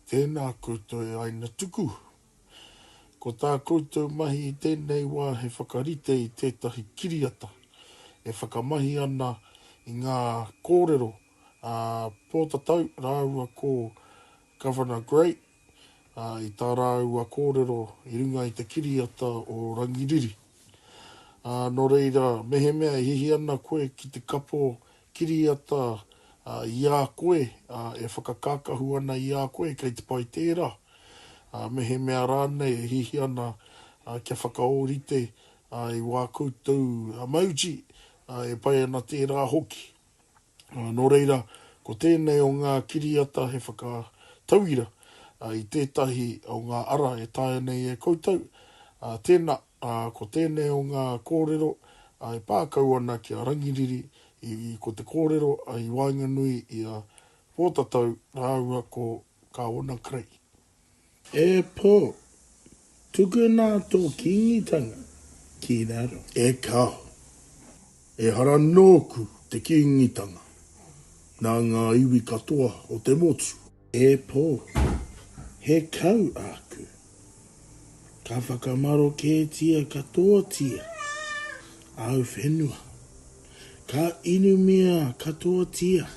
Tēnā koutou e Aina Tuku! Ko tā koutou mahi i tēnei wā he whakarite i tētahi kiriata e whakamahi ana i ngā kōrero a Pōtatau rāua ko Governor Gray ā, i tā rāua kōrero i runga i te kiriata o Rangiriri. Ā, nō reira, mehemea e hihi ana koe ki te kapo kiriata i a koe, ā, e whakakākahu ana i a koe kei te pai tērā, ā, mehemea rānei e hihi ana kia whakaōrite i wā koutou mauti, ā, e pai ana tērā hoki. Ā, nō reira, ko tēnei o ngā kiriata he whakatauira i tētahi o ngā ara e taea nei e koutou, ā, tēnā, ā, ko tēnei o ngā kōrero e pā kau ana ki a Rangiriri, i, ko te kōrero i waenganui i a Pōtatau rāua ko Kāwana Creagh. E pō! Tukuna tō kīngitanga ki raro. E kao! Ehara nōku te kīngitanga nā ngā iwi katoa o te motu. E pō! He kau āku. Ka whakamaroketia katoatia āu whenua. Ka inumia katoatia.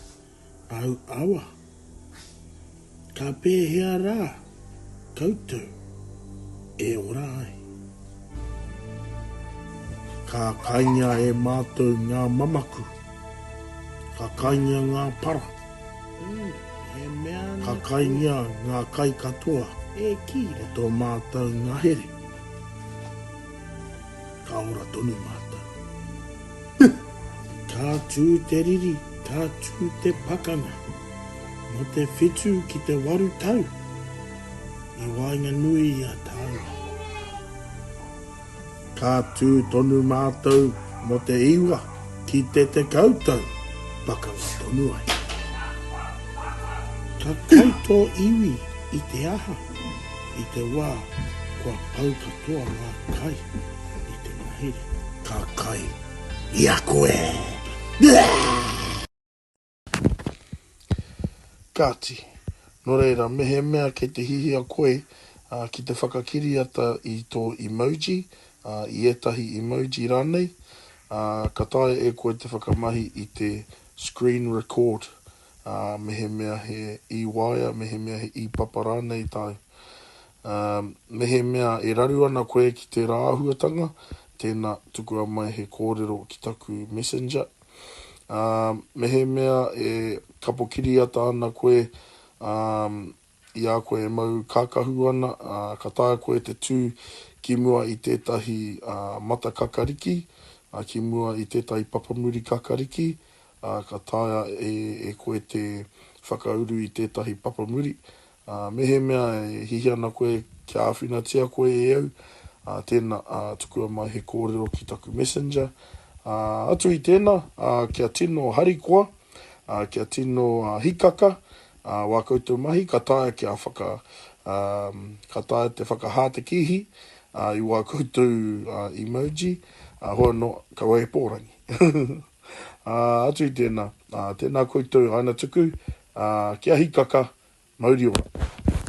Au awa. Ka pēhea rā koutou e ora ai? Ka kaingia e mātou ngā mamaku. Ka kaingia ngā para. Ka kaingia ngā kai katoa o tō mātou ngahere. Ka ora tonu mātou. Huh! Ka tū te riri, ka tū te pakanga. Nō te whitu ki te waru tau i waenganui i a tāua. Ka tū tonu mātou mō te iwa ki te tekau tau, pakanga tonu ai. Ka kai tō iwi i te aha? I te wā kua pau katoa ngā kai i te mahere. Ka kai i a koe. Kāti, nō reira, mehemea kei te hihia koe ki te whakakiriata i tō emoji, i ētahi emoji rānei, ka taea e koe te whakamahi i te screen record. ā, mehemea he īwaea, mehemea he īpapa rānei tāu. Ā, mehemea e raru ana koe ki tērā āhuatanga, tēnā, tukua mai he kōrero ki taku Messenger. Ā, mehemea e kapo kiriata ana koe, ā, i a koe e mau kākahu ana, ā, ka taea koe te tū ki mua i tētahi mata kakariki, ā, ki mua i tētahi papamuri kakariki, ā, ka taea e koe te whakauru i tētahi papamuri. Ā, mehemea e hihi ana koe kia āwhinatia koe e au, ā, tēnā, ā, tukua mai he kōrero ki taku Messenger. Ā, atu i tēnā, ā, kia tino harikoa, ā, kia tino hikaka, Wā koutou mahi, ka taea kia whaka, ka taea te whakahā te kīhi i wā koutou emoji, hoi anō, kaua e pōrangi. Atu i tēnā, tēnā koutou aina tuku, kia hikaka, mauri ora.